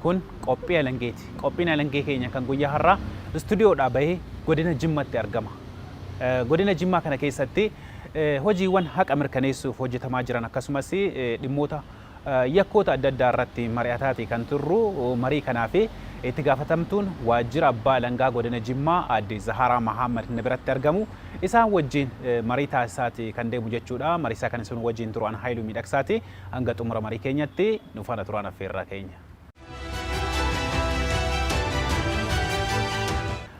Kun qophii alangeeti. Qophiin alangee keenya kan guyyaa har'aa istudiyoodhaa bahee godina Jimmatti argama. Godina Jimmaa kana keessatti hojiiwwan haqa mirkaneessuuf hojjetamaa jiran akkasumas dhimmoota yakkoota adda addaa irratti mari'ataati kan turru marii kanaa fi itti gaafatamtuun waajjira abbaa alangaa godina Jimmaa aadde Zahaaraa Mahaammad na biratti argamu isaan wajjin marii taasisaati kan deemu jechuudha. Mariisaa kan isin wajjin turu an Haayiluu Miidhaksaati. Hanga xumura marii keenyatti nu faana turaan affeerraa keenya.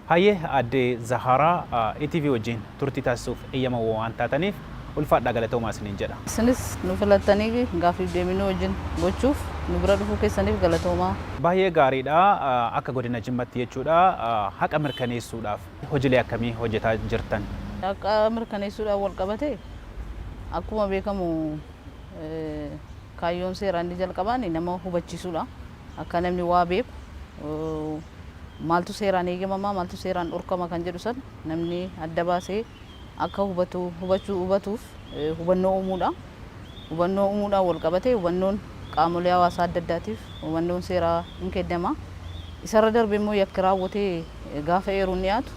Hayyee aadde Zahaaraa ETV wajjin turtii taasisuuf eeyyama waan taataniif ulfaadhaa galatoomaa isiniin jedha. Isinis nu filattanii gaaffiif deebii nu wajjin gochuuf nu bira dhufuu keessaniif galatoomaa. Baay'ee gaariidha. Akka godina Jimmatti jechuudha haqa mirkaneessuudhaaf hojilee akkamii hojjetaa jirtan? Haqa mirkaneessuudhaan walqabatee akkuma beekamu kaayyoon seeraa inni jalqabaan nama hubachiisuudha. Akka namni waa beeku maaltu seeraan eegamamaa maaltu seeraan dhorkama kan jedhu san namni adda baasee akka hubatu hubachuu hubatuuf hubannoo uumuudha. Hubannoo uumuudhaan wal qabatee hubannoon qaamolee hawaasaa adda addaatiif hubannoon seeraa hin kennama. Isarra darbee immoo yakki raawwatee gaafa eeruun dhiyaatu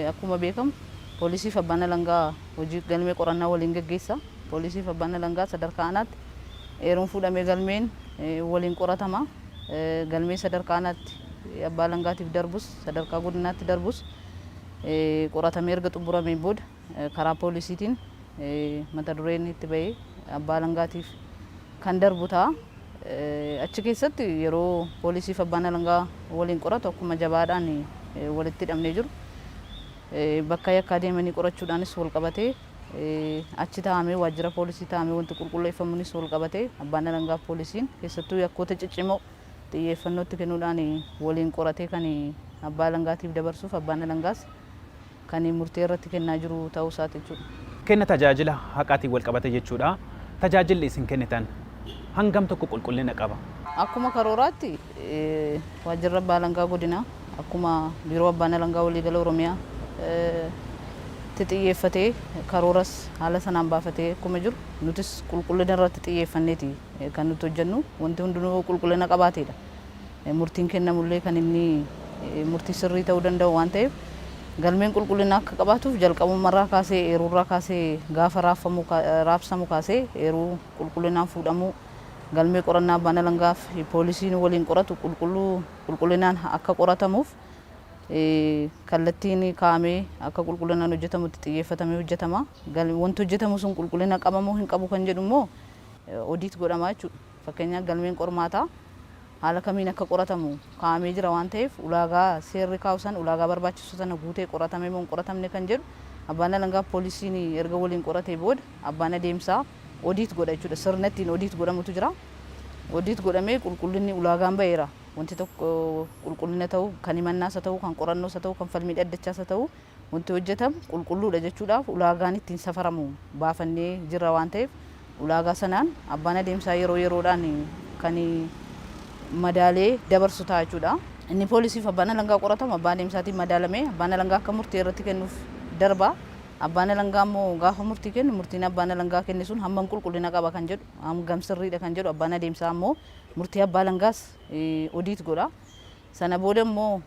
akkuma beekamu poolisiif abbaan alangaa hojii galmee qorannaa waliin gaggeessa. Poolisii fi Abbaan Alangaa sadarkaa aanaatti eeruun fuudhamee galmeen waliin qoratama. Galmeen sadarkaa aanaatti Abbaa Alangaatiif darbus sadarkaa godinaatti darbus qoratamee erga xumurameen booda karaa poolisiitiin mata dureen itti ba'ee Abbaa Alangaatiif kan darbu ta'a. Achi keessatti yeroo poolisii fi Abbaan Alangaa waliin qoratu akkuma jabaadhaan walitti hidhamnee jiru. Bakka yakkaa deemanii qorachuudhaanis walqabatee achi taa'amee waajjira poolisii taa'amee wanti qulqulleeffamuunis walqabatee abbaan alangaaf poolisiin keessattuu yakkoota ciccimoo xiyyeeffannootti kenuudhaan waliin qoratee kan abbaa alangaatiif dabarsuuf abbaan alangaas kan murtee irratti kennaa jiru ta'uu isaati jechuudha. Kenna tajaajila haqaatiin walqabatee jechuudha. Tajaajilli isin kennitan hangam tokko qulqullina qaba? Akkuma karooraatti Waajjirri Abbaa Alangaa Godinaa akkuma Biiroo Abbaan Alangaa Waliigala Oromiyaa tti xiyyeeffatee karooras haala sanaan baafatee akkuma jiru nutis qulqullina irratti xiyyeeffanneeti kan nuti hojjennu. Wanti hundinuu yoo qulqullina qabaateedha murtiin kennamullee kan inni murtii sirrii ta'uu danda'u waan ta'eef galmeen qulqullina akka qabaatuuf jalqabummarraa kaasee eeruurraa kaasee gaafa raabsamu kaasee eeruu qulqullinaan fuudhamuu galmee qorannaa abbaan alangaa fi poolisiin waliin qoratu qulqulluu qulqullinaan akka qoratamuuf kallattiin kaa'amee akka qulqullinaan hojjetamutti xiyyeeffatamee hojjetama. Wanti hojjetamu sun qulqullina qaba moo hin qabu kan jedhu immoo odiit godhama jechuudha. Fakkeenyaaf galmeen qormaataa haala kamiin akka qoratamu kaa'amee jira waan ta'eef ulaagaa seerri kaa'u san ulaagaa barbaachisu sana guutee qoratame moo hin qoratamne kan jedhu abbaan alangaa poolisiin erga waliin qoratee booda abbaan adeemsaa Audit godha jechuudha. Sirna ittiin audit godhamutu jira. Audit godhamee qulqullinni ulaagaan ba'eera. Wanti tokko qulqullina ta'u, kan himannaas haa ta'u, kan qorannoos haa ta'u, kan falmii dhaddachaas haa ta'u wanti hojjetamu qulqulluudha jechuudhaaf ulaagaan ittiin safaramu baafannee jirra waan ta'eef ulaagaa sanaan abbaan adeemsaa yeroo yeroodhaan kan madaalee dabarsu ta'a jechuudha. Inni poolisiif abbaan alangaa qoratamu abbaa adeemsaatiin madaalamee abbaan alangaa akka murtee irratti kennuuf darba. Abbaan Alangaa immoo gaafa murtii kennu murtiin Abbaan Alangaa kenne sun hammam qulqullina qaba kan jedhu, hangam sirriidha kan jedhu Abbaan Adeemsaa immoo murtii Abbaa Alangaas odiit godha. Sana booda immoo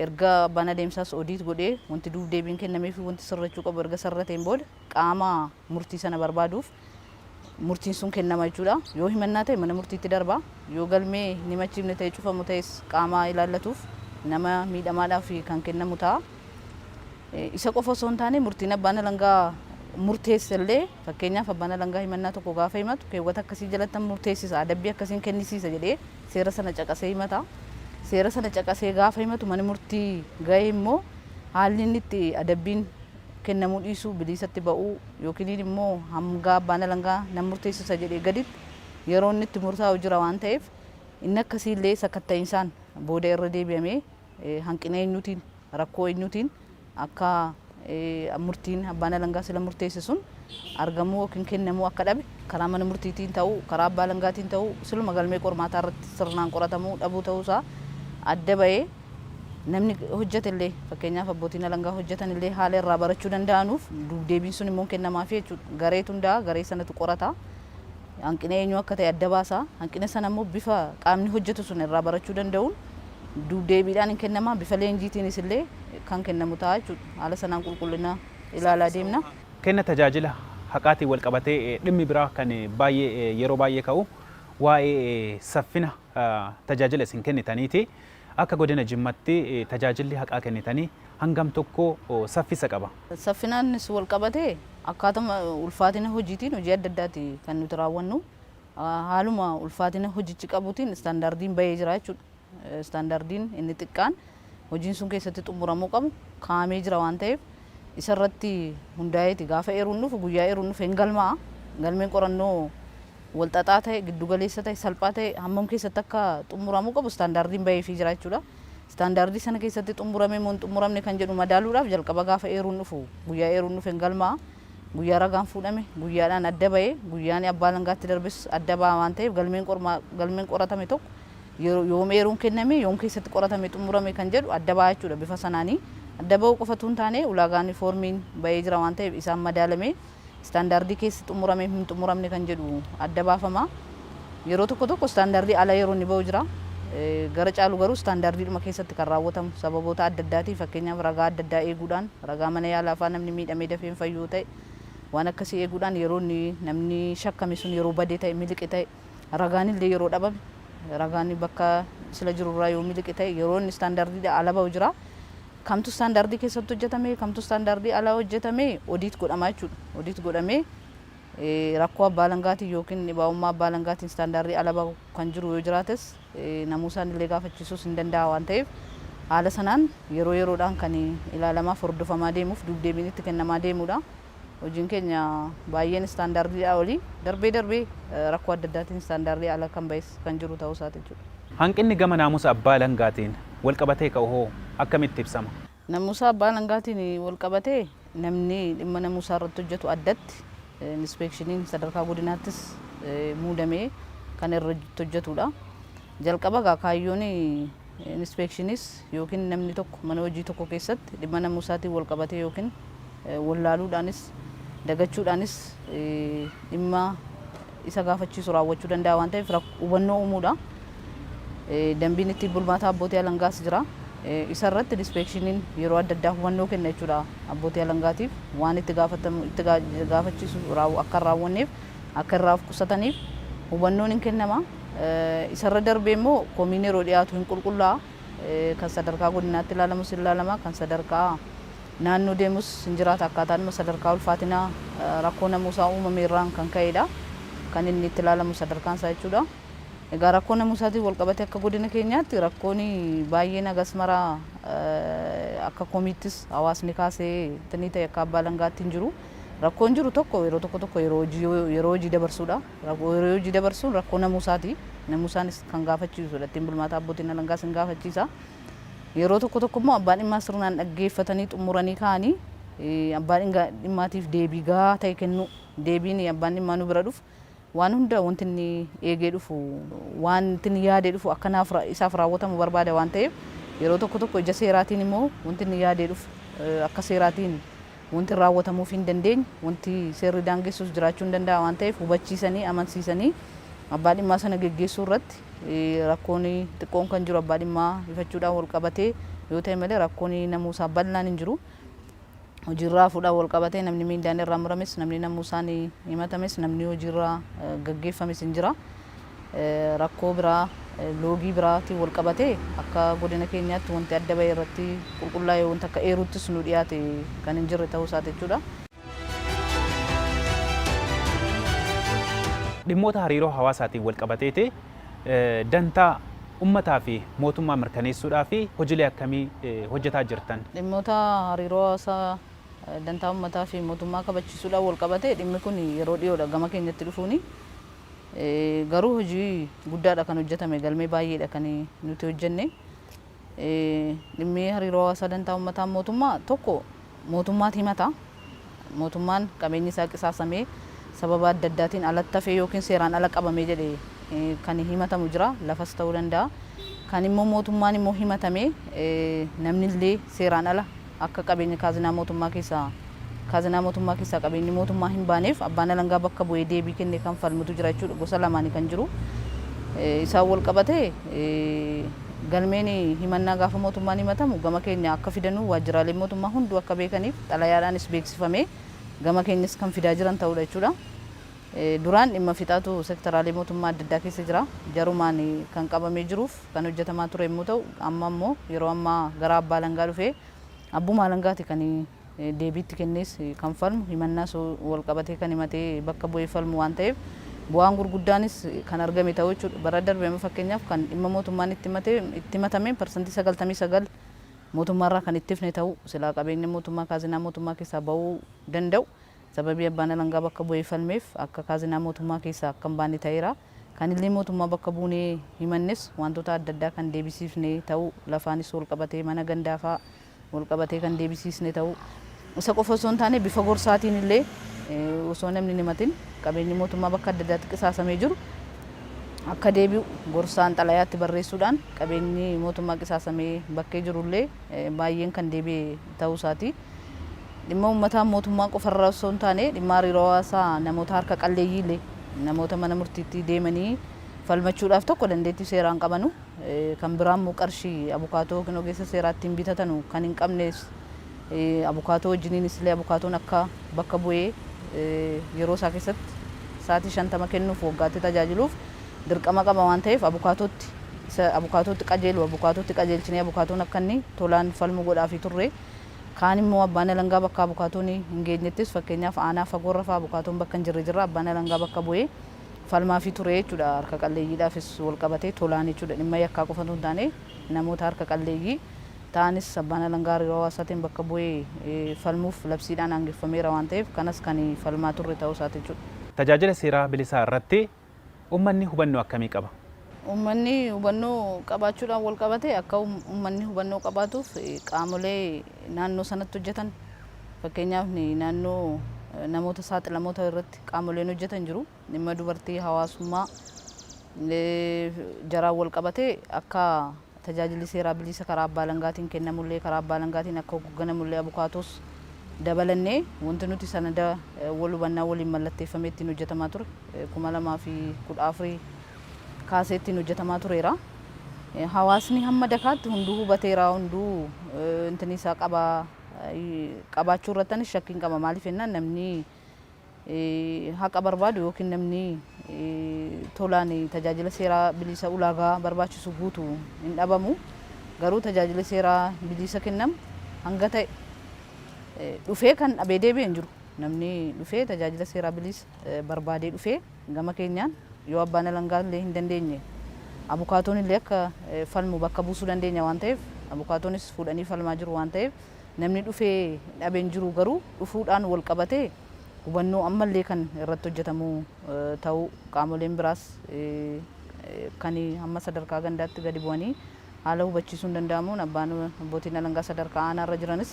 erga Abbaan Adeemsaas odiit godhee wanti duub-deebiin kennameefi wanti sirrachuu qabu erga sirrateen booda qaama murtii sana barbaaduuf murtiin sun kennama jechuudha. Yoo himannaa ta'e mana murtiitti darba. Yoo galmee hin himachiifne ta'e cufamu ta'es qaama ilaallatuuf nama miidhamaadhaaf kan kennamu ta'a. Isa qofa osoo hin taane murtiin abbaan alangaa murteesse illee fakkeenyaaf abbaan alangaa himannaa tokko gaafa himatu keewwata akkasii jalattan murteessisa adabbii akkasiin kennisiisa jedhee seera sana caqasee himata. Seera sana caqasee gaafa himatu mana murtii ga'e immoo haalli inni itti adabbiin kennamuu dhiisuu, biliisatti ba'uu yookiniin immoo hamgaa abbaan alangaa nan murteessisa jedhee gaditti yeroo inni itti murtaa'u jira waan ta'eef inni akkasii illee sakatta'insaan booda irra deebi'amee hanqina eenyuutiin, rakkoo eenyuutiin akka murtiin abbaan alangaa sila murteesse sun argamuu yookiin kennamuu akka dhabe karaa mana murtiitiin ta'uu, karaa abbaa alangaatiin ta'uu siluma galmee qormaataa irratti sirnaan qoratamuu dhabuu ta'uu isaa adda ba'ee Namni hojjetellee fakkeenyaaf abbootiin alangaa hojjetanillee haala irraa barachuu danda'anuuf duubdeebiin sun immoo hin kennamaafii jechuudha. Gareetu hundaa'a, garee sanatu qorata. Hanqina eenyuu akka ta'e adda baasa. Hanqina sana immoo bifa qaamni hojjetu sun irraa barachuu danda'uun duubdeebiidhaan hin kennamaa, bifa leenjiitiinis illee kan kennamu ta'a jechuudha. Haala sanaan qulqullina ilaalaa deemna. Kenna tajaajila haqaatiin walqabatee dhimmi biraa kan baay'ee yeroo baay'ee ka'u waa'ee saffina tajaajila isin kennitaniiti. Akka Godina Jimmatti tajaajilli haqaa kennitanii hangam tokko saffisa qaba? Saffinaanis walqabatee akkaatuma ulfaatina hojiitiin hojii adda addaati kan nuti raawwannu. Haaluma ulfaatina hojichi qabutiin istaandaardiin bahee jira jechuudha. Istaandaardiin inni xiqqaan hojiin sun keessatti xumuramuu qabu kaa'amee jira waan ta'eef isa irratti hundaa'eeti gaafa eeruun dhufu guyyaa eeruun dhufe hin galmaa'a. Galmeen qorannoo wal xaxaa ta'e, giddu galeessa ta'e, salphaa ta'e hammam keessatti akka xumuramuu qabu istaandaardiin baheefii jira jechuudha. Istaandaardii sana keessatti xumuramee moo hin xumuramne kan jedhu madaaluudhaaf jalqaba gaafa eeruun dhufu guyyaa eeruun dhufe hin galmaa'a. Guyyaa ragaan fuudhame guyyaadhaan adda bahee guyyaan abbaa alangaatti darbes adda baha waan ta'eef galmeen galmeen qoratame tokko yoom eeruun kenname, yoom keessatti qoratame xumurame kan jedhu adda ba'a jechuudha. Bifa sanaani adda ba'uu qofa utuu hin taane ulaagaani foormiin ba'ee jira waan ta'eef isaan madaalamee istaandaardii keessi xumurame hin xumuramne kan jedhu adda baafama. Yeroo tokko tokko istaandaardii ala yeroo inni ba'u jira. Gara caalu garuu istaandaardiidhuma keessatti kan raawwatamu sababoota adda addaatiin fakkeenyaaf ragaa adda addaa eeguudhaan ragaa mana yaalaa fa'aa namni miidhamee dafee hin fayyu yoo ta'e waan akkasii eeguudhaan yeroo inni namni shakkame sun yeroo bade ta'e miliqe ta'e ragaanillee yeroo dhabame ragaan bakka sila jiru irraa yoo miliqe ta'e yeroo inni istaandaardiidha ala ba'u jira. Kamtu istaandaardii keessatti hojjetame kamtu istaandaardii ala hojjetame odiit godhama jechuudha. Odiit godhamee rakkoo abbaa alangaatiin yookiin dhibaa'ummaa abbaa alangaatiin istaandaardii ala ba'u kan jiru yoo jiraates namuu isaanillee gaafachiisuus hin danda'a waan ta'eef haala sanaan yeroo yeroodhaan kan ilaalamaa fi hordofamaa deemuuf duubdeebiin itti kennamaa deemudha. Hojiin keenya baay'een istaandaardiidhaa oli, darbee darbee rakkoo adda addaatiin istaandaardii ala kan ba'es kan jiru ta'uu isaati jechuudha. Hanqinni gama naamusa abbaa alangaatiin walqabatee ka'u hoo akkamitti ibsama? Namuusa abbaa alangaatiin walqabatee namni dhimma namuusaa irratti hojjetu addatti inispeekshiniin sadarkaa godinaattis muudamee kan irratti hojjetuudha. Jalqaba egaa kaayyoon Inspeekshiniis ykn namni tokko mana hojii tokko keessatti dhimma namuu isaatiin wal qabatee ykn wallaaluudhaanis dagachuudhaanis dhimma isa gaafachiisu raawwachuu danda'a waan ta'eef hubannoo uumuudha. Dambiin ittiin bulmaataa abbootii alangaas jira. Isa irratti inspeekshiniin yeroo adda addaa hubannoo kenna jechuudha abbootii alangaatiif waan itti gaafatamu itti gaafachiisu akka hin raawwanneef akka irraa of qusataniif hubannoon hin kennama. Isarra darbee immoo komiin yeroo dhiyaatu hin qulqullaa'a. Kan sadarkaa godinaatti ilaalamus hin ilaalama. Kan sadarkaa naannoo deemus hin jiraata. Akkaataadhuma sadarkaa ulfaatina rakkoo namuusaa uumame irraan kan ka'eedha. Kan inni itti ilaalamu sadarkaan isaa jechuudha. Egaa rakkoo namuusaatiin wal qabatee akka godina keenyaatti rakkoon baay'een hagas mara akka komiittis hawaasni kaasee tinii ta'e akka abbaa alangaatti hin jiru. Rakkoon jiru tokko yeroo tokko tokko yeroo hojii yoo yeroo hojii dabarsuudha. Rakkoo yeroo hojii dabarsuun rakkoo namuusaati. Namuusaanis kan gaafachiisudha. Ittiin bulmaataa abbootiin alangaas hin gaafachiisa. Yeroo tokko tokko immoo abbaan dhimmaa sirnaan dhaggeeffatanii xumuranii kaa'anii eh, abbaa dhinga- dhimmaatiif deebii gahaa ta'e kennuu. Deebiin abbaan dhimmaa nu bira dhufu Waan hunda wanti inni eegee dhufu, wanti inni yaadee dhufu akka naaf, isaaf raawwatamu barbaada waan ta'eef, yeroo tokko tokko ija seeraatiin immoo wanti inni yaadee dhufu akka seeraatiin wanti raawwatamuufii hin dandeenye, wanti seerri daangessus jiraachuu hin danda'a waan ta'eef hubachiisanii, amansiisanii abbaa dhimmaa sana geggeessuu irratti rakkoon xiqqoon kan jiru abbaa dhimmaa ifachuudhaan wal qabatee yoo ta'e malee rakkoon namuusaa bal'aan hin jiru. hojiirraa fuudhaan walqabatee namni miindaan irraa murames, namni namuusaan himatames, namni hojiirraa gaggeeffames hin jira. Rakkoo biraa loogii biraatiin walqabatee akka godina keenyaatti wanti adda ba'e irratti qulqullaa'ee wanta akka eeruuttis nu dhiyaate kan hin jirre ta'uu isaati jechuudha. Dhimmoota hariiroo hawaasaatiin walqabateeti dantaa ummataa fi mootummaa mirkaneessuudhaaf hojilee akkamii hojjetaa jirtan? Dhimmoota hariiroo hawaasaa dantaa ummataa fi mootummaa kabachiisuudhaan walqabatee dhimmi kun yeroo dhiyoodha gama keenyatti dhufuuni. Garuu hojii guddaadha kan hojjetame, galmee baay'eedha kan nuti hojjenne. Dhimmi hariiroo hawaasaa dantaa ummataan mootummaa tokko mootummaat himata. Mootummaan qabeenyi isaa qisaasamee sababa adda addaatiin alatti hafee ykn seeraan ala qabame jedhee kan himatamu jira. Lafas ta'uu danda'a. Kan immoo mootummaan immoo himatamee namni illee seeraan ala Akka qabeenya kaazinaa mootummaa keessaa kaazinaa mootummaa keessaa qabeenyi mootummaa hin baaneef abbaan alangaa bakka bu'ee deebii kenne kan falmutu jira jechuudha. Gosa lamaani kan jiru. Isaan wal qabate galmeen himannaa gaafa mootummaan himatamu gama keenya akka fidanuu waajjiraaleen mootummaa hunduu akka beekaniif xalayaadhaanis beeksifamee gama keenyas kan fidaa jiran ta'uudha jechuudha. Duraan dhimma fixaatu sektaraalee mootummaa adda addaa keessa jira. Jarumaan kan qabamee jiruuf. kan hojjetamaa ture yommuu ta'u, amma immoo yeroo ammaa gara abbaa alangaa dhufee abbuma alangaati kan deebii itti kennees kan falmu himannaas walqabatee kan himatee bakka bu'ee falmu waan ta'eef bu'aan gurguddaanis kan argame ta'uu jechuudha. Bara darbe amma fakkeenyaaf kan dhimma mootummaan itti himate itti himatameen parsantii 99 mootummaarraa kan itti hifne ta'uu silaa qabeenya mootummaa kaazinaa mootummaa keessaa ba'uu danda'u sababii abbaan alangaa bakka bu'ee falmeef akka kaazinaa mootummaa keessaa akka hin baane ta'eera. Kan illee mootummaa bakka buunee himannes waantota adda addaa kan deebisiifne ta'uu, lafaanis walqabatee mana gandaa fa'aa walqabatee kan deebisiisne ta'uu, isa qofa osoo hin taane bifa gorsaatiin illee osoo namni hin himatin qabeenyi mootummaa bakka adda addaatti qisaasamee jiru akka deebi'u gorsaan xalayaa itti barreessuudhaan qabeenyi mootummaa qisaasamee bakkee jiru illee baay'een kan deebi'e ta'uu isaati. dhimma ummataa mootummaa qofa irraa ossoo hin taane dhimma hariiroo hawaasaa namoota harka qalleeyyii illee namoota mana murtiitti deemanii falmachuudhaaf tokko dandeettii seeraa hin qabanu kan biraa immoo qarshii abukaatoo yookiin ogeessa seeraa ittiin bitatanu kan hin qabnes abukaatoo wajjiniinis illee abukaatoon akka bakka bu'ee yeroo isaa keessatti sa'aatii shantama kennuuf waggaatti tajaajiluuf dirqama qaba waan ta'eef abukaatootti isa abukaatootti qajeelu abukaatootti qajeelchinee abukaatoon akka inni tolaan falmu godhaafii turre. Kaan immoo abbaan alangaa bakka abukaatoon hin geenyettis fakkeenyaaf aanaa fagoorra fa'aa abukaatoon bakka hin jirre jirra abbaan alangaa bakka bu'ee falmaafii ture jechuudha. Harka qalleeyyiidhaafis wal qabatee tolaan jechuudha. Dhimma yakkaa qofa utuu hin taane namoota harka qalleeyyii ta'anis abbaan alangaa hariiroo hawaasaatiin bakka bu'ee falmuuf labsiidhaan aangeffameera waan ta'eef kanas kan falmaa turre ta'uu isaati jechuudha. Tajaajila seeraa bilisaa irratti Ummanni hubannoo akkamii qaba? Ummanni hubannoo qabaachuudhaan walqabatee akka ummanni hubannoo qabaatuuf qaamolee naannoo sanatti hojjetan fakkeenyaaf naannoo namoota saaxilamoo ta'an irratti qaamoleen hojjetan jiru. Dhimma dubartii, hawaasummaa jaraan walqabatee akka Tajaajilli seeraa bilisa karaa abbaa alangaatiin kennamullee karaa abbaa alangaatiin akka hogganamullee abukaatoos dabalannee wanti nuti sanada wal hubannaa waliin mallatteeffamee ittiin hojjetamaa ture 2014 kaasee ittiin hojjetamaa tureera. Hawaasni hamma dakaatti hunduu hubateera hunduu intini isaa qabaa qabaachuu irratti anis shakkiin qaba maaliif jennaan namni haqa barbaadu ykn namni tolaan tajaajila seeraa biliisa ulaagaa barbaachisu guutu hin dhabamu. Garuu tajaajili seeraa biliisa kennamu hanga ta'e dhufee kan dhabee deebi'e hin jiru. Namni dhufee tajaajila seeraa biliisa barbaadee dhufee gama keenyaan yoo abbaan alangaa illee hin dandeenye abukaatoon illee akka falmu bakka buusuu dandeenya waan ta'eef abukaatoonis fuudhanii falmaa jiru waan ta'eef Namni dhufee dhabe hin jiru garuu dhufuudhaan walqabatee hubannoo ammallee kan irratti hojjetamu ta'uu qaamoleen biraas kan hamma sadarkaa gandaatti gadi bu'anii haala hubachiisuun danda'amuun abbaan abbootiin alangaa sadarkaa aanaa irra jiranis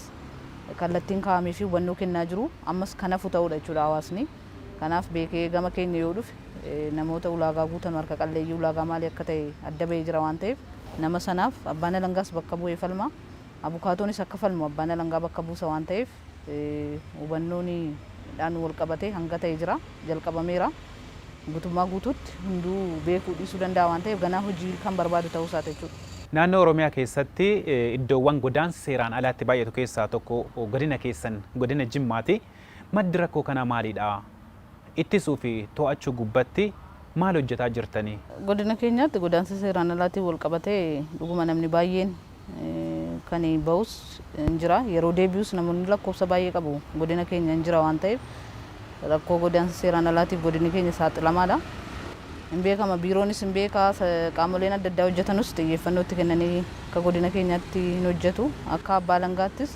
kallattiin kaa'amee fi hubannoo kennaa jiru ammas kan hafu ta'uudha jechuudha hawaasni. Kanaaf beekee gama keenya yoo dhufe namoota ulaagaa guutan harka qalleeyyii ulaagaa maalii akka ta'e adda ba'ee jira waan ta'eef nama sanaaf abbaan alangaas bakka bu'ee falma. abukaatoonis akka falmu abbaan alangaa bakka buusa waan ta'eef hubannoon dhaan wal qabatee hanga ta'e jira, jalqabameera. Gutummaa guutuutti hunduu beekuu dhiisuu danda'a waan ta'eef ganaa hojii kan barbaadu ta'uu isaati jechuu dha. Naannoo Oromiyaa keessatti iddoowwan godaansi seeraan alaa itti baay'atu keessaa tokko godina keessan godina Jimmaa ti. Maddi rakkoo kanaa maali dha? ittisuu fi to'achuu gubbatti maal hojjetaa jirtani? Godina keenyaatti godaansa seeraan alaatiin walqabatee dhuguma namni baay'een kan bahus hin jira. Yeroo deebi'us namoonni lakkoofsa baay'ee qabu godina keenya hin jira waan ta'eef rakkoo godaansa seeraan alaatiif godinni keenya saaxilamaadha. Hin beekama biiroonis hin beeka qaamoleen adda addaa hojjetanus xiyyeeffannoo itti kennanii akka godina keenyaatti hin hojjetu akka abbaa alangaattis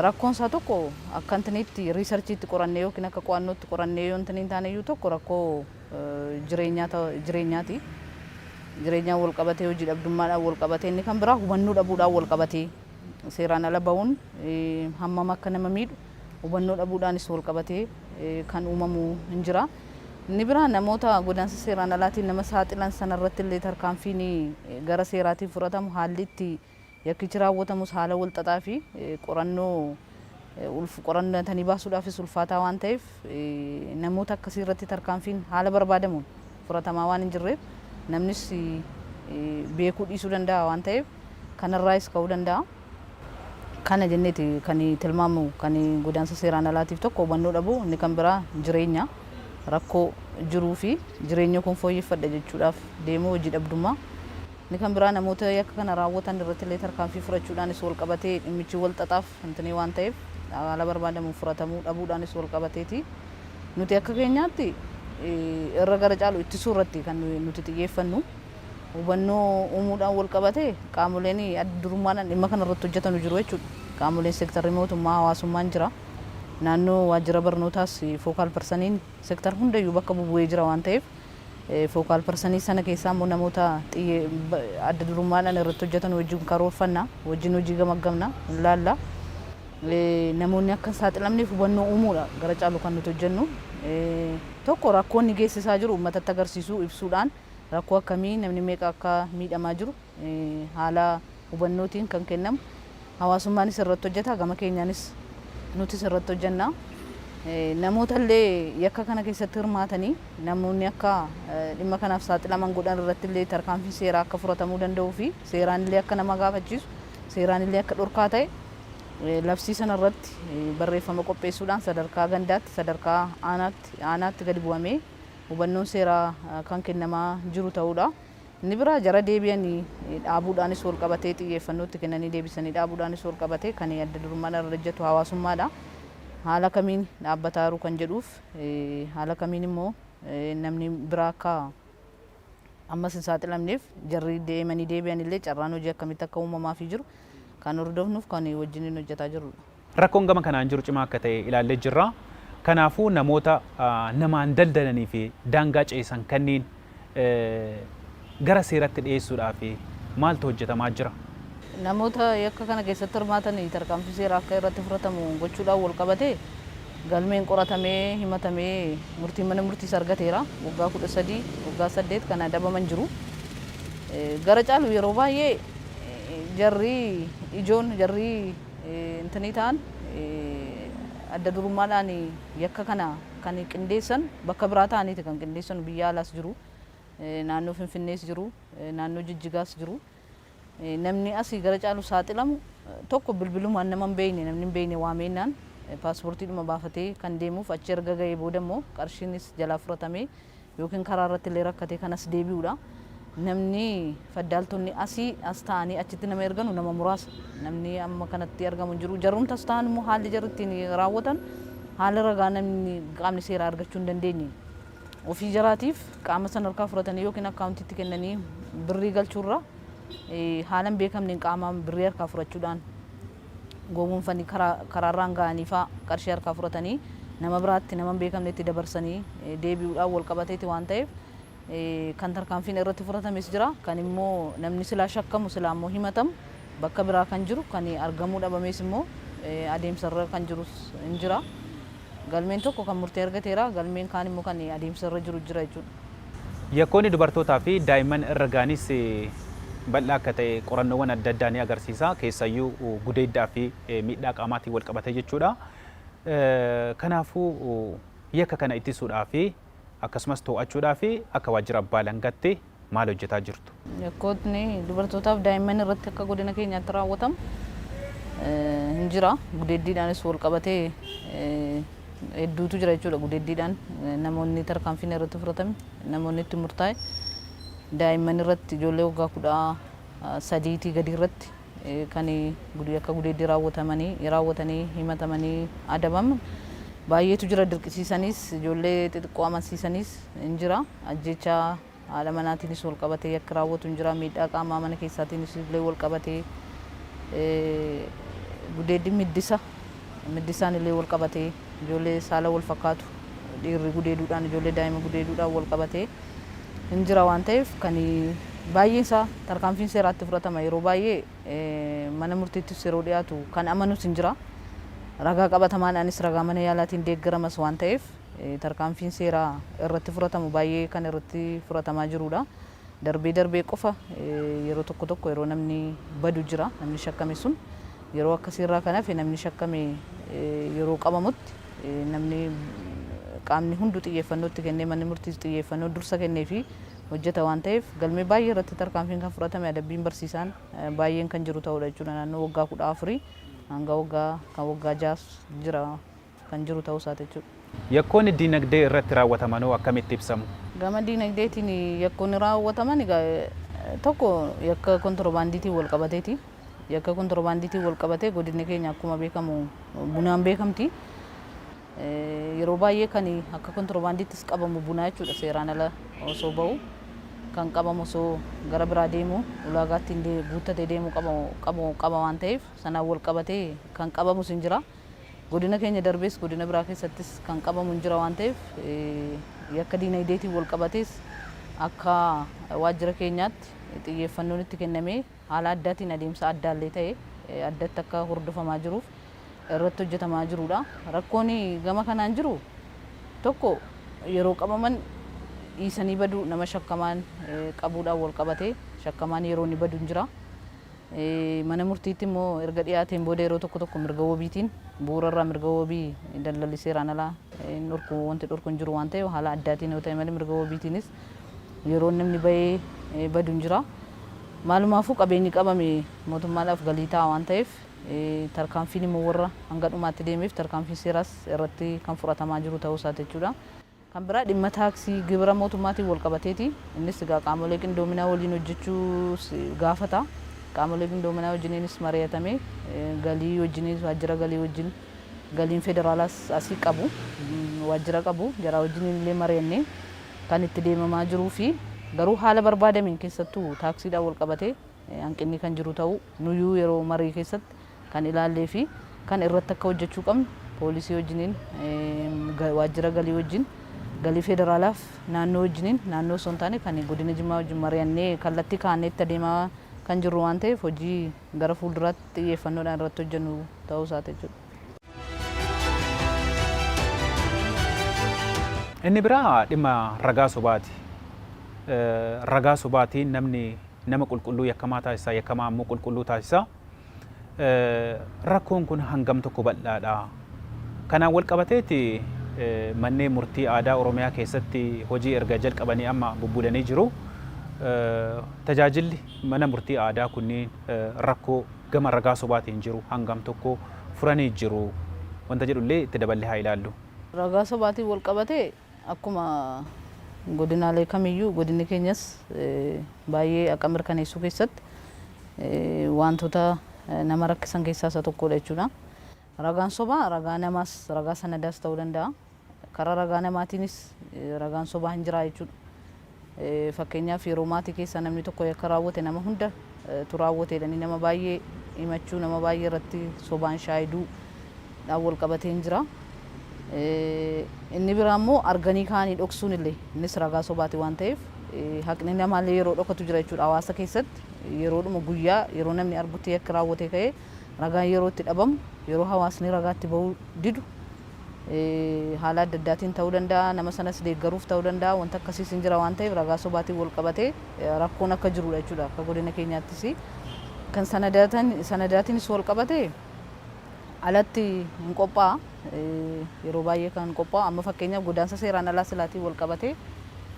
Rakkoon isaa tokko akka intiniitti riisarchiitti qorannee yookiin akka qo'annootti qorannee yoo intiniin taane iyyuu tokko rakkoo jireenyaa ta- jireenyaati. Jireenyaan wal qabatee hojii dhabdummaadhaan wal qabatee inni kan biraa hubannoo dhabuudhaan wal qabatee seeraan ala ba'uun eh, hammam akka nama miidhu hubannoo dhabuudhaanis wal qabatee eh, kan uumamu hin jira. Inni biraa namoota godaansa seeraan alaatiin nama saaxilan sanarratti illee tarkaanfiin eh, gara seeraatiin fudhatamu haalli itti Yakkichi raawwatamus haala walxaxaa fi qorannoo qoratanii baasuudhaafis ulfaataa waan ta'eef namoota akkasii irratti tarkaanfiin haala barbaadamuun furatamaa waan hin jirreef namnis beekuu dhiisuu danda'a waan ta'eef kanarraayis ka'uu danda'a. Kana jenneeti kan tilmaamu kan godaansa seeraan alaatiif tokko hubannoo dhabuu inni kan biraa jireenya rakkoo jiruu fi jireenya koon fooyyeffadha jechuudhaaf deemuu hojii dhabdummaa Inni kan biraa namoota yakka kana raawwatan irrattillee tarkaanfii fudhachuudhaanis walqabatee dhimmichi wal xaxaaf wixinee waan ta'eef haala barbaadamuun furatamuu dhabuudhaanis walqabateeti. Nuti akka keenyaatti irra gara caalu ittisuu irratti kan nuti xiyyeeffannu. Hubannoo uumuudhaan walqabatee qaamoleen adda durummaadhaan dhimma kana irratti hojjetanu jiru jechuudha. Qaamoleen seektarri mootummaa, hawaasummaan jira. Naannoo waajjira barnootaas fookaal parsaniin Sector hundayyuu bakka bubu'ee jira waan ta'eef focal person sana keessaa immoo namoota adda durummaadhaan irratti hojjetan wajjin karoorfanna, wajjin hojii gamaggamna, laalla. Namoonni akka hin saaxilamneef hubannoo uumuudha gara caalu kan nuti hojjennu. Tokko rakkoo inni geessisaa jiru uummatatti agarsiisuu, ibsuudhaan rakkoo akkamii namni meeqa akka miidhamaa jiru, haala hubannootiin kan kennamu. Hawaasummaanis irratti hojjeta. Gama keenyaanis nutis irratti hojjenna. Namoota illee yakka kana keessatti hirmaatanii namoonni akka dhimma kanaaf saaxilaman godhan irratti illee tarkaanfii seeraa akka fudhatamuu danda'uu fi seeraan illee akka nama gaafachiisu seeraan illee akka dhorkaa ta'e labsii sana irratti barreeffama qopheessuudhaan sadarkaa gandaatti sadarkaa aanaatti aanaatti gadi bu'amee hubannoon seeraa kan kennamaa jiru ta'uudha. Inni biraa jara deebi'anii dhaabuudhaanis walqabatee xiyyeeffannoo itti kennanii deebisanii dhaabuudhaanis walqabatee kan adda durummaadhaan irra ejjatu hawaasummaadha. Haala kamiin dhaabbataa jiru kan jedhuuf haala kamiin immoo namni biraa akka ammas hin saaxilamneef jarri deemanii deebi'an illee carraan hojii akkamitti akka uumamaafii jiru kan hordofnuuf kan wajjiniin hojjetaa jirrudha. Rakkoon gama kanaan jiru cimaa akka ta'e ilaallee jirra. Kanaafuu namoota namaan daldalanii fi daangaa ceesan kanniin gara seeratti dhiyeessuudhaaf maaltu hojjetamaa jira? Namoota yakka kana keessatti hirmaatan tarkaanfii seeraa akka irratti fudhatamu gochuudhaan walqabatee galmeen qoratamee, himatamee murtiin mana murtiis argateera. Waggaa 13, waggaa 8 kan adabaman jiru. Gara caalu yeroo baay'ee jarri ijoon jarri Intini ta'an adda durummaadhaan yakka kana kan qindeessan bakka biraa ta'aniiti kan qindeessanu biyya alaas jiru naannoo finfinnees jiru naannoo jijjigaas jiru namni asii gara caalu saaxilamu tokko bilbilumaan nama hin beekne namni hin beekne waameennaan paaspoortiidhuma baafatee kan deemuuf achi erga ga'ee booda immoo qarshiinis jalaa fudhatamee yookiin karaa irratti illee rakkatee kan as deebi'u dha. Namni faddaaltonni asii as taa'anii achitti nama erganu nama muraasa. Namni amma kanatti argamu hin jiru. Jarrumti as taa'an immoo haalli jarri ittiin raawwatan haala ragaa namni qaamni seeraa argachuu hin dandeenye. Ofii jaraatiif qaama san harkaa fudhatanii yookiin akkaawuntiitti kennanii birrii galchuurra haala hin beekamneen qaamaan birrii harkaa fudhachuudhaan gowwoomfanii karaarraan ga'aniifaa qarshii harkaa fudhatanii nama biraatti nama hin beekamnetti dabarsanii deebi'uudhaan walqabateeti waan ta'eef kan tarkaanfiin irratti fudhatames jira. Kan immoo namni silaa shakkamu silaa immoo himatamu bakka biraa kan jiru kan argamuu dhabamees immoo adeemsarra kan jirus hin jira. Galmeen tokko kan murtee argateera, galmeen kaan immoo kan adeemsa irra jiru jira jechuudha. Yakkoonni dubartootaa fi daa'imman irra ga'anis bal'aa akka ta'e qorannoowwan adda addaa ni agarsiisa. Keessayyuu gudeeddaa fi miidhaa qaamaatiin wal qabatee jechuudha. Kanaafuu yakka kana ittisuudhaa fi akkasumas too'achuudhaa fi akka waajjira abbaa alangaatti maal hojjetaa jirtu? Yakkootni dubartootaa fi daa'imman irratti akka godina keenyaatti raawwatamu hin jira. Gudeeddiidhaanis wal qabatee hedduutu jira jechuudha. Gudeeddiidhaan namoonni tarkaanfiin irratti fudhatame, namoonni itti murtaa'e daa'imman irratti ijoollee waggaa kudha sadiitii gadii irratti kan yakka gudeeddii raawwatamanii raawwatanii himatamanii adabaman baay'eetu jira. Dirqisiisaniis ijoollee xixiqqoo amansiisaniis in jira. Ajjeechaa haadha manaatiinis wal qabatee yakki raawwatu in jira. Miidhaa qaamaa mana keessaatiinis illee wal qabatee gudeeddiin middisa middisaan illee wal qabatee. Ijoollee saala wal fakkaatu dhiirri gudeeduudhaan ijoollee daa'ima gudeeduudhaan wal qabatee hin jira waan ta'eef kan baay'een isaa tarkaanfiin seeraa itti fudhatama yeroo baay'ee mana murtiittis yeroo dhiyaatu kan amanus hin jira ragaa qabatamaadhaanis ragaa mana yaalaatiin deeggaramas waan ta'eef tarkaanfiin seeraa irratti fudhatamu baay'ee kan irratti fudhatamaa jiruudha. Darbee darbee qofa yeroo tokko tokko yeroo namni badu jira namni shakkame sun Yeroo akkasii irraa kan hafe namni shakkame yeroo qabamutti namni qaamni hundu xiyyeeffannoo itti kennee manni murtiis xiyyeeffannoo dursa kenneefii hojjeta waan ta'eef galmee baay'ee irratti tarkaanfiin kan fudhatame adabbiin barsiisaan baay'een kan jiru ta'uudha jechuudha naannoo waggaa 14 hanga waggaa kan waggaa 6s jira kan jiru ta'uu isaati jechuudha. Yakkoonni diinagdee irratti raawwatamanoo akkamitti ibsamu? Gama diinagdeetiin yakkoonni raawwataman egaa tokko yakka kontirobaandiitiin wal qabateeti. Yakka kontirobaandiitiin wal qabatee godinni keenya akkuma beekamu bunaan beekamti. Yeroo baay'ee kan akka kontirobaandiittis qabamu bunaa jechuudha seeraan ala osoo ba'u kan qabamu osoo gara biraa deemu ulaagaa ittiin guuttatee deemu qaba waan ta'eef sanaan wal qabatee kan qabamus hin jira. Godina keenya darbees godina biraa keessattis kan qabamu hin jira waan ta'eef yakka diinagdeetiin wal qabatees akka waajjira keenyaatti xiyyeeffannoon itti kennamee haala addaatiin adeemsa addaallee ta'e addatti akka hordofamaa jiruuf irratti hojjetamaa jiruudha. Rakkoon gama kanaan jiru tokko yeroo qabaman dhiisanii baduu nama shakkamaan qabuudhaan wal qabatee shakkamaan yeroo inni badu hin jira. Mana murtiitti immoo erga dhiyaateen booda yeroo tokko tokko mirga wabiitiin bu'uura irraa mirga wabii daldalli seeraan alaa hin dhorku wanti dhorku hin jiru waan ta'eef haala addaatiin yoo ta'e malee mirga wabiitiinis yeroon namni bahee badu hin jira. Maalumaafuu qabeenyi qabame mootummaadhaaf galii ta'a waan ta'eef tarkaanfiin immoo warra hanga dhumaatti deemeef tarkaanfiin seeraas irratti kan fudhatamaa jiru ta'uu isaati jechuudha. Kan biraa dhimma taaksii, gibira mootummaatiin walqabateeti. Innis egaa qaamolee qindoominaa waliin hojjechuus gaafata. Qaamolee qindoominaa wajjiniinis mari'atamee galii wajjiniis waajjira galii wajjin galiin federaalaas asii qabu waajjira qabu jaraa wajjiniin illee mari'annee kan itti deemamaa jiruufi garuu haala barbaadameen keessattuu taaksiidhaan walqabatee hanqinni kan jiru ta'uu nuyyuu yeroo marii keessatti kan ilaallee fi kan irratti akka hojjechuu qabnu poolisii wajjiniin waajjira galii wajjin galii federaalaaf naannoo wajjiniin naannoo osoo hin taane kan godina Jimmaa wajjin mari'annee kallattii kaa'annee itti adeemaa kan jirru waan ta'eef hojii gara fuulduraatti xiyyeeffannoodhaan irratti hojjennu ta'uu isaati jechuudha. Inni biraa dhimma ragaa sobaati. Ragaa sobaatiin namni nama qulqulluu yakkamaa taasisa, yakkamaa ammoo qulqulluu taasisa. Rakkoon kun hangam tokko bal'aadha. Kanaan wal qabateeti manneen murtii aadaa Oromiyaa keessatti hojii erga jalqabanii amma bubbulanii jiru. Tajaajilli mana murtii aadaa kunniin rakkoo gama ragaa sobaatiin jiru hangam tokko furanii jiru wanta jedhu illee itti daballee haa ilaallu. Ragaa sobaatiin wal qabatee akkuma godinaalee kamiyyuu godinni keenyas baay'ee haqa mirkaneessuu keessatti waantota nama rakkisan keessaa isa tokkoodha jechuudha. Ragaan sobaa ragaa namaas ragaa sanadaas ta'uu danda'a. Karaa ragaa namaatiinis ragaan sobaa hin jiraa jechuudha. Fakkeenyaaf yeroo maatii keessaa namni tokko yakka raawwate nama hunda tu raawwate jedhanii nama baay'ee himachuu, nama baay'ee irratti sobaan shaayiduu dhaan wal qabatee hin jira. Inni biraa immoo arganii kaanii dhoksuun illee innis ragaa sobaati waan ta'eef haqni namaa illee yeroo dhokatu jira jechuudha. Hawaasa keessatti yeroodhuma guyyaa yeroo namni argutti yakki raawwatee ka'ee ragaan yeroo itti dhabamu, yeroo hawaasni ragaa itti ba'uu didu, haala adda addaatiin ta'uu danda'a, nama sanas deeggaruuf ta'uu danda'a, wanta akkasiis hin jira waan ta'eef ragaa sobaatiin wal qabatee rakkoon akka jiru dha jechuudha. Akka godina keenyaattis kan sanadaatiinis wal qabate alatti hin qophaa'a. Yeroo baay'ee kan qophaa'u amma fakkeenyaaf godaansa seeraan alaa silaatiin wal qabatee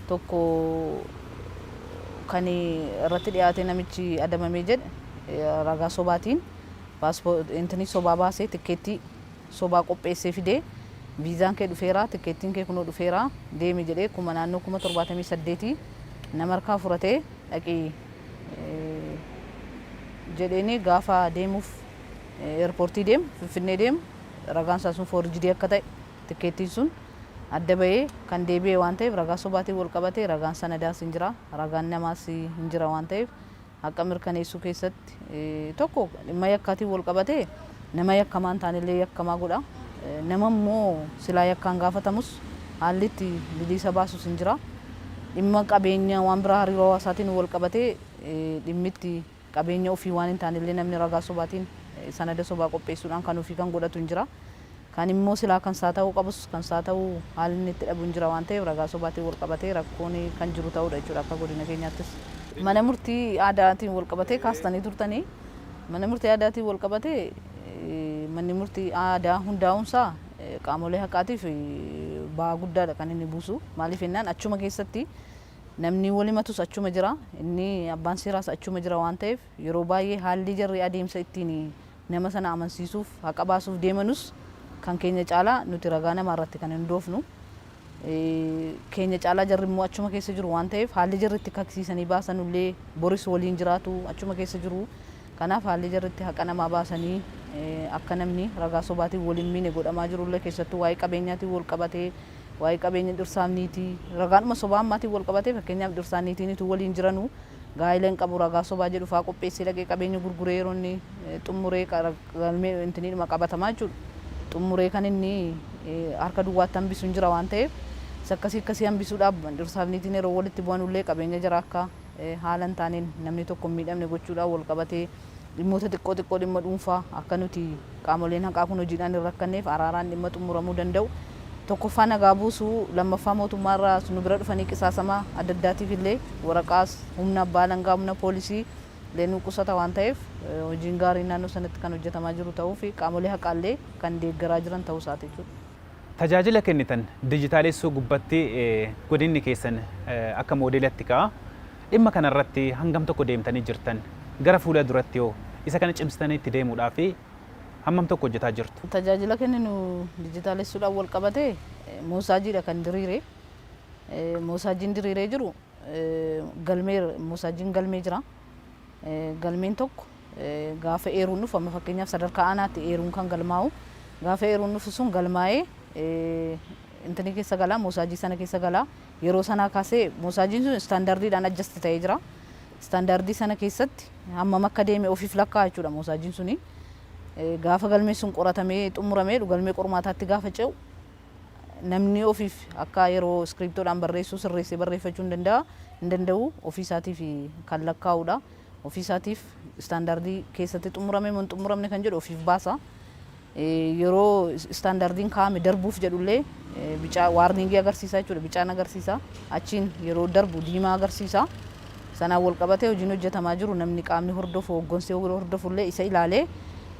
tokko kan irratti dhiyaatee namichi adabamee jedhe ragaa sobaatiin paaspoortii sobaa baasee tikkeettii sobaa qopheessee fide. Viizaan kee dhufeera, tikkeettiin kee kunoo dhufeera, deemi jedhee kuma naannoo kuma 78 nama harkaa furatee dhaqi jedheenii gaafa deemuuf eerpoortii deemu, Finfinnee deemu ragaan isaa sun foorjidii akka ta'e tikkeettiin sun adda bahee kan deebi'e waan ta'eef ragaa sobaatiin wal qabatee ragaan sanadaas hin jira, ragaan namaas hin jira waan ta'eef haqa mirkaneessuu keessatti tokko dhimma yakkaatiin wal qabatee nama yakkamaa hin taanellee yakkamaa godha. Nama immoo silaa yakkaan gaafatamus haalli itti biliisa baasus hin jira. Dhimma qabeenya waan biraa hariiroo hawaasaatiin wal qabatee dhimmi itti qabeenya ofii waan hin taanellee namni ragaa sobaatiin sanada sobaa qopheessuudhaan kan ofii kan godhatu hin jira. Kan immoo silaa kan isaa ta'uu qabus kan isaa ta'u haalli inni itti dhabuun jira waan ta'eef ragaa sobaatiin wal qabatee rakkoon kan jiru ta'uudha jechuudha akka godina keenyaattis. Mana murtii aadaatiin wal qabatee kaastanii turtanii mana murtii aadaatiin wal qabatee manni murtii aadaa hundaa'uun isaa qaamolee haqaatiif ba'aa guddaadha kan inni buusu maaliif jennaan achuma keessatti namni wal himatus achuma jira inni abbaan seeraas achuma jira waan ta'eef yeroo baay'ee haalli jarri adeemsa ittiin Nama sana amansiisuuf, haqa baasuuf deemanus kan keenya caalaa nuti ragaa namaa irratti kan hindoofnu keenya caalaa jarri immoo achuma keessa jiru waan ta'eef haalli jarri itti kaksiisanii baasanu illee boris waliin jiraatu achuma keessa jiru. Kanaaf haalli jarri itti haqa namaa baasanii akka namni ragaa sobaatiin wal hin miine godhamaa jiru illee keessattuu waa'ee qabeenyaatiin wal qabatee waa'ee qabeenya dhirsaaf niitii ragaadhuma sobaa ammaatiin wal qabatee fakkeenyaaf dhirsaan niitiin utuu waliin jiranuu Gaa'ila hin qabu ragaa sobaa jedhu fa'aa qopheessee dhaqee qabeenya gurguree yeroo inni xummuree galmee intiniidhuma qabatamaa jechuudha. Xummuree kan inni harka duwwaatti hambisu hin jira waan ta'eef isa akkasii akkasii hambisuudhaaf dhirsaa fi niitiin yeroo walitti bu'anullee qabeenya jaraa akka haala hin taaneen namni tokko hin miidhamne gochuudhaan wal qabatee dhimmoota xiqqoo xiqqoo dhimma dhuunfaa akka nuti qaamoleen haqaa kun hojiidhaan hin rakkanneef araaraan dhimma xumuramuu danda'u tokkoffaa nagaa buusu lammaffaa mootummaa irraa nu bira dhufanii qisaasama adda addaatiif illee waraqaas humna abbaa alangaa humna poolisii illee nu qusata waan ta'eef hojiin gaariin naannoo sanatti kan hojjetamaa jiru ta'uu fi qaamolee haqaa illee kan deeggaraa jiran ta'uu isaati jechuudha. Tajaajila kennitan dijitaalessuu gubbatti godinni keessan akka moodeelatti ka'a. Dhimma kana irratti hangam tokko deemtanii jirtan? Gara fuula duratti hoo isa kana cimsitanii itti deemuudhaaf hammam tokko hojjetaa jirtu? Tajaajila kenninu dijitaalessuudhaan walqabatee moosaajiidha kan diriire. Moosaajiin diriiree jiru galmee moosaajiin galmee jira. Galmeen tokko gaafa eeruun dhufu amma fakkeenyaaf sadarkaa aanaatti eeruun kan galmaa'u gaafa eeruun dhufu sun galmaa'ee intinii keessa galaa moosaajii sana keessa galaa Yeroo sanaa kaasee moosaajiin sun istaandardiidhaan adjust ta'ee jira. Istaandardii sana keessatti hammam akka deeme ofiif lakkaa'a jechuudha moosaajiin suni. Gaafa galmeen sun qoratamee xumuramee galmee qormaataatti gaafa ce'u namni ofiif akka yeroo iskiriiptoodhaan barreessu sirreessee barreeffachuu hin danda'a hin danda'u ofii isaatiif kan lakkaa'udha. Ofii isaatiif istaandardii keessatti xumurame moo hin xumuramne kan jedhu ofiif baasa. Yeroo istaandardiin kaa'ame darbuuf jedhullee bicaa, waarniingii agarsiisa jechuudha. Bicaan agarsiisa. Achiin yeroo darbu diimaa agarsiisa. Sanaan walqabatee hojiin hojjetamaa jiru namni qaamni hordofu, hooggansi hordofullee isa ilaalee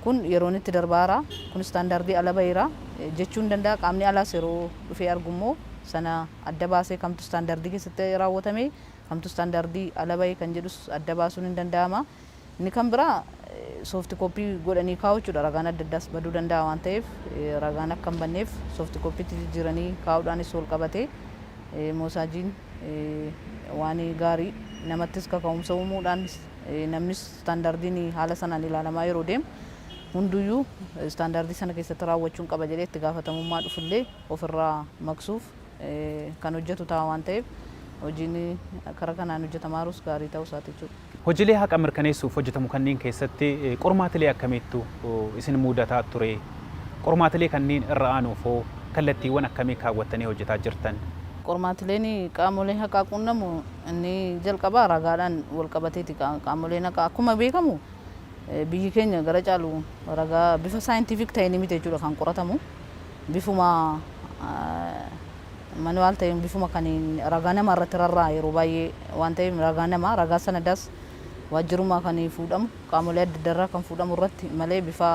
kun yeroon itti darbaara, kun istaandardii ala baheera jechuu ni danda'a. Qaamni alaas yeroo dhufee argummoo sana adda baasee kamtu istaandardii keessatti raawwatame, kamtu istaandardii ala bahe kan jedhus adda baasuun ni danda'ama. Inni kan biraa soofti kooppii godhanii kaa'uu jechuudha. Ragaan adda addaas baduu danda'a waan ta'eef ragaan akka hin banneef soofti kooppiitti jijjiiranii kaa'uudhaanis wal qabatee moosaajiin waan gaarii namattis kaka'umsa uumuudhaan namnis istaandaardiin haala sanaan ilaalamaa yeroo deemu hunduyyuu istaandaardii sana keessatti raawwachuun qaba jedhee itti gaafatamummaa dhufullee ofirraa maqsuuf kan hojjetu ta'a waan ta'eef hojiin kara kanaan hojjetamaa jirus gaarii ta'uu isaati jechuudha. Hojilee haqa mirkaneessuuf hojjetamu kanniin keessatti qormaatilee akkamiittu isin muudataa turee? Qormaatilee kanniin irra aanuuf hoo kallattiiwwan akkamii kaawwattanii hojjetaa jirtan? Qormaatileen qaamolee haqaa quunnamu inni jalqabaa ragaadhaan walqabateeti. Qaamoleen haqaa akkuma beekamu biyyi keenya gara caalu ragaa bifa scientific ta'eenii miti jechuudha kan qoratamu. Bifuma manual ta'een bifuma kan ragaa namaa irratti rarra'a yeroo baay'ee waan ta'eef ragaa namaa ragaa sanadaas waajjirumaa kan fuudhamu qaamolee adda addarraa kan fuudhamu irratti malee bifa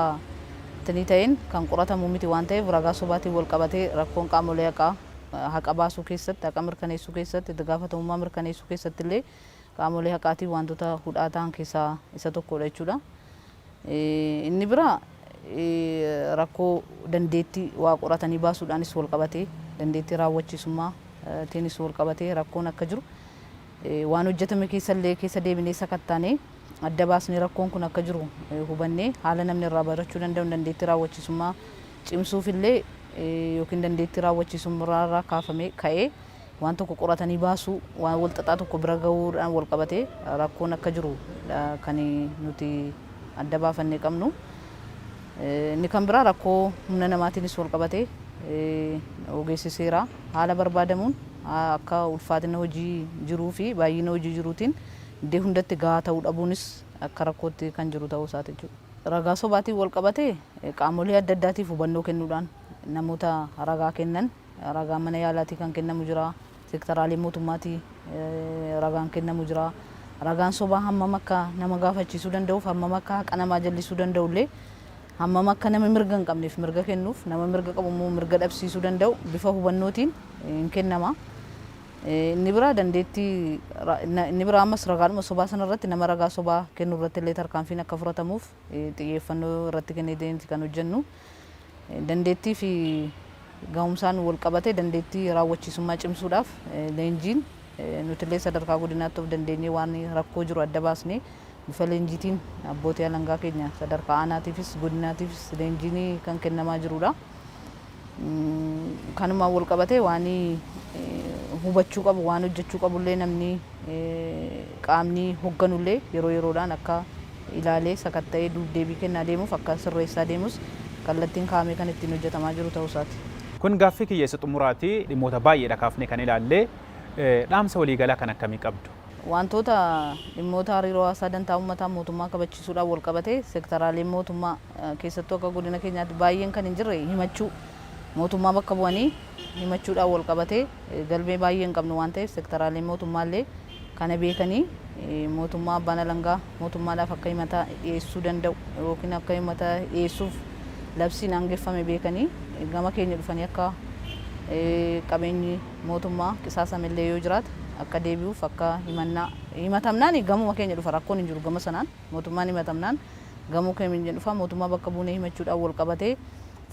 tinii ta'een kan qoratamu miti waan ta'eef ragaa sobaatiin wal qabatee rakkoon qaamolee haqaa haqa baasuu keessatti haqa mirkaneessuu keessatti itti gaafatamummaa mirkaneessuu keessatti illee qaamolee haqaatiin waantota hudhaa tahan keessaa isa tokkoodha jechuudha. Inni biraa rakkoo dandeetti waa qoratanii baasuudhaanis walqabatee dandeettii raawwachiisummaa tiinis walqabatee rakkoon akka jiru waan hojjetame keessa illee keessa deebinee sakattaanee adda baasnee rakkoon kun akka jiru hubannee haala namni irraa barachuu danda'uun dandeettii raawwachiisummaa cimsuuf illee yookiin dandeettii raawwachiisummaa irraa kaafamee ka'ee waan tokko qoratanii baasuu, waan wal xaxaa tokko bira gahuudhaan wal qabatee rakkoon akka jiru dha kan nuti adda baafannee qabnu. Inni kan biraa rakkoo humna namaatiinis wal qabatee ogeessi seeraa haala barbaadamuun akka ulfaatina hojii jiruu fi baay'ina hojii jiruutiin iddee hundatti gahaa ta'uu dhabuunis akka rakkootti kan jiru ta'uu isaati jechuu dha. Ragaa sobaatiin wal qabatee qaamolee adda addaatiif hubannoo kennuudhaan namoota ragaa kennan Ragaan mana yaalaatii kan kennamu jira. Sektaraalee mootummaatii ragaan kennamu jira. Ragaan sobaa hammam akka nama gaafachiisuu danda'uuf hammam akka haqa namaa jallisuu danda'ullee hammam akka nama mirga hin qabneef mirga kennuuf nama mirga qabu immoo mirga dhabsiisuu danda'u bifa hubannootiin hin kennama. Inni biraa dandeettii inni biraa ammas ragaadhuma sobaa sana irratti nama ragaa sobaa kennu irratti illee tarkaanfiin akka fudhatamuuf xiyyeeffannoo irratti kennee deemti kan hojjennu. Dandeettii fi gahumsaan walqabatee dandeettii raawwachiisummaa cimsuudhaaf leenjiin nutillee sadarkaa godinaatti of dandeenyee waan rakkoo jiru adda baasnee bifa leenjiitiin abbootii alangaa keenya sadarkaa aanaatiifis godinaatiifis leenjiin kan kennamaa jirudha. Kanumaan walqabatee waan hubachuu qabu waan hojjechuu qabullee namni qaamni hogganullee yeroo yeroodhaan akka ilaalee sakatta'ee duub-deebii kennaa deemuuf akka sirreessaa deemus kallattiin kaa'amee kan ittiin hojjetamaa jiru ta'uu isaati. Kun gaaffii kiyya isa xumuraati. Dhimmoota baay'eedha kaafnee kan ilaalle. Dhaamsa waliigalaa kan akkamii qabdu? Waantoota dhimmoota hariiroo hawaasaa dantaa uummataa mootummaa kabachiisuudhaan walqabatee sektaraaleen mootummaa keessattuu akka godina keenyaatti baay'een kan hin jirre himachuu mootummaa bakka bu'anii himachuudhaan walqabatee, galmee baay'ee hin qabnu waan ta'eef sektaraaleen mootummaa illee kana beekanii mootummaa abbaan alangaa mootummaadhaaf akka himata dhiyeessuu danda'u yookiin akka himata dhiyeessuuf labsiin aangeffame beekanii gama keenya dhufanii akka qabeenyi mootummaa qisaasame illee yoo jiraate akka deebi'uuf akka himannaa himatamnaan gamuma keenya dhufa rakkoon hin jiru gama sanaan. Mootummaan himatamnaan gamoo kamiin hin dhufaa mootummaa bakka buunee himachuudhaan walqabatee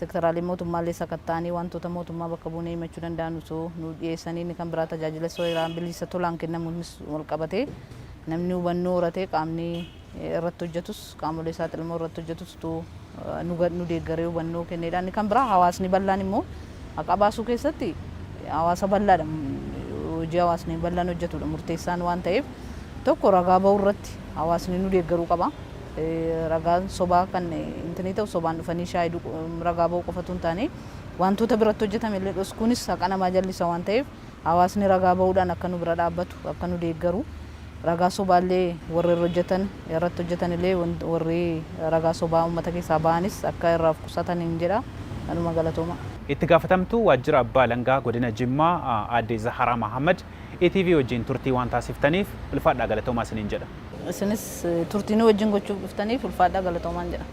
sektaraalee mootummaallee sakatta'anii waantota mootummaa bakka buunee himachuu danda'an osoo nuuf dhiyeessanii inni kan biraa tajaajila seeraan biliisa tolaan kennamuunis walqabatee namni hubannoo horatee qaamni irratti hojjetus qaamolee saaxilamoo irratti hojjetus utuu nu deeggaree hubannoo kenneedha. Inni kan biraa hawaasni bal'aan immoo haqaa baasuu keessatti hawaasa bal'aadha hojii hawaasni bal'aan hojjetuudha murteessaan waan ta'eef tokko ragaa ba'uu irratti hawaasni nu deeggaruu qaba. Ragaan sobaa kan intinii ta'u sobaan dhufanii shaayiduu ragaa ba'uu qofatu hin taane wantoota biratti hojjetame illee dhoskuunis haqa namaa jallisa waan ta'eef Hawaasni ragaa bahuudhaan akka nu bira dhaabbatu, akka nu deeggaru, ragaa sobaa illee warri irra hojjetan, irratti hojjetan illee warri ragaa sobaa uummata keessaa bahanis akka irraa of qusataniin jedha. Anuma galatooma. Itti gaafatamtuu waajjira abbaa alangaa godina Jimmaa aadde Zaharaa Mahaammad ETV wajjin turtii waan taasiftaniif ulfaadhaa galatoomaa isiniin jedha. Isinis turtii nu wajjin gochuuf dhuftaniif ulfaadhaa galatoomaan jedha.